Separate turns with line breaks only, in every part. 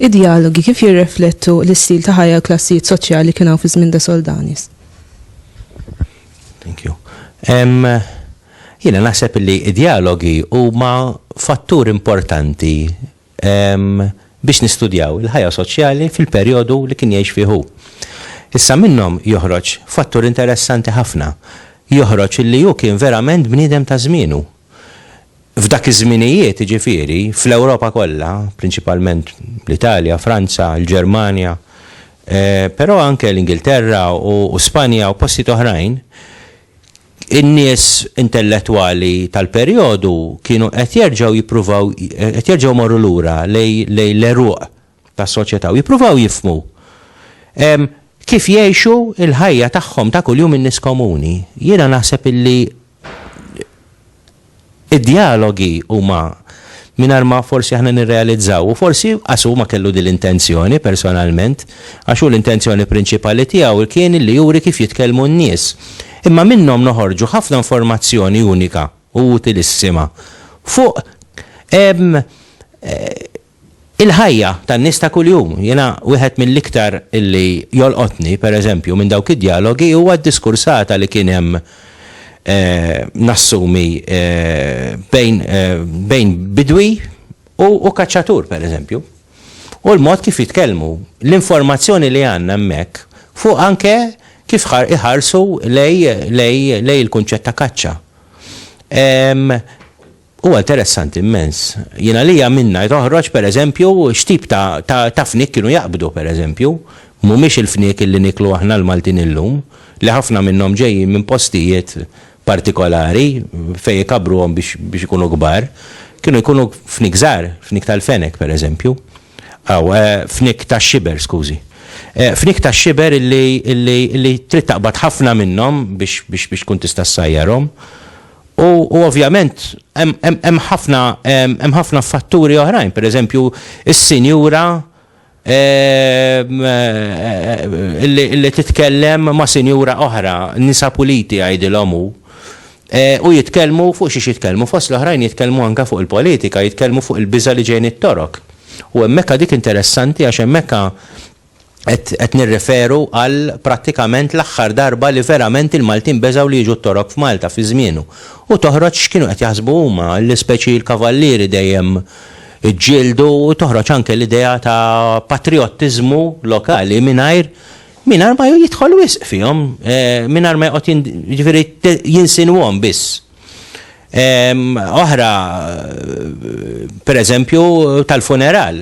id-dialogi kif jirreflettu l-istil ta' ħajja klassijiet soċjali kien hawn fi żmien da Soldanis. Thank you. Um, Jiena naħseb li id-dialogi huma fattur importanti biex nistudjaw il-ħajja soċjali fil-perjodu li kien jgħix fih hu. Issa minnhom joħroġ fattur interessanti ħafna, joħroġ li hu kien verament bniedem ta' żmienu. F'dak iż-żminijiet, jiġifieri, fl-Ewropa kollha, prinċipalment l-Italja, Franza, il-Ġermanja, però anke l-Ingilterra u Spanja u postijiet oħrajn, In-nies intellettwali tal-perjodu kienu qed jerġgħu jippruvaw qed jerġgħu jmorru lura lejn l-għeruq tas-soċjetà u jippruvaw jifhmu kif jgħixu l-ħajja tagħhom ta' kuljum in-nies komuni. Jiena naħseb illi Id-djalogi huma mingħajr ma forsi aħna nirrealizzaw, u forsi qas hu ma kellu din l-intenzjoni personalment, għax hu l-intenzjoni prinċipali tiegħu kien li juri kif jitkellmu n-nies. Imma minnhom noħorġu ħafna informazzjoni unika u utilissima fuq Il-ħajja tan-nies ta' kuljum. Jiena wieħed mill-iktar li jolqotni, per eżempju, minn dawk id-djalogi huwa d-diskursata li kien hemm, nassumi, bejn bejn bidwi u u kaċċatur, per eżempju. U l-mod kif jitkellmu. L-informazzjoni li għandna hemmhekk fuq anke kif iħarsu lejn lejn lejn il-kunċett ta' kaċċa. Huwa interessanti mmens. Jien għalija minnha toħroġ pereżempju x'tip ta' ta' ta' fniek kienu jaqbdu pereżempju. Mhumiex il-fniek li nieklu aħna l-Maltin illum, li ħafna minnhom ġejjin minn postijiet partikolari fejn ikabbruhom biex biex ikunu kbar. Kienu jkunu fniek żgħar, fniek tal-fenek pereżempju. Aw, fniek tax-xiber, skużi. Fniek tax-xiber illi illi illi trid taqbad ħafna minnhom biex biex biex tkun tista' ssajjarhom. U ovvjament hemm ħafna hemm ħafna fatturi oħrajn, pereżempju s-sinjura li titkellem ma' sinjura oħra, nisa puliti jgħidilhom hu, u jitkellmu fuq xiex jitkellmu, fost l-oħrajn jitkellmu anke fuq il-politika, jitkellmu fuq il-biża' li ġej mit-Torok. U hemmhekk dik interessanti għax hemmhekk qed nirreferu għal prattikament l-aħħar darba li verament il-Maltin beżgħu li jiġu t-Torok f'Malta fi żmienu. U toħroġ x'kienu qed jaħsbu huma, li speċi l-kavallieri dejjem iġġieldu u toħroġ anke l-idea ta' patrijottiżmu lokali mingħajr mingħajr ma jidħol wisq fihom, mingħajr ma joqgħod jiġifieri jinsinwhom biss. Oħra, per eżempju, tal-funeral,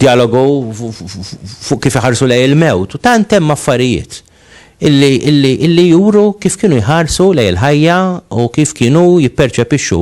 dialogu fuq kif iħarsu lej il-mewt, u tant hemm affarijiet illi juru kif kienu jħarsu lej il-ħajja u kif kienu jipperċepixxu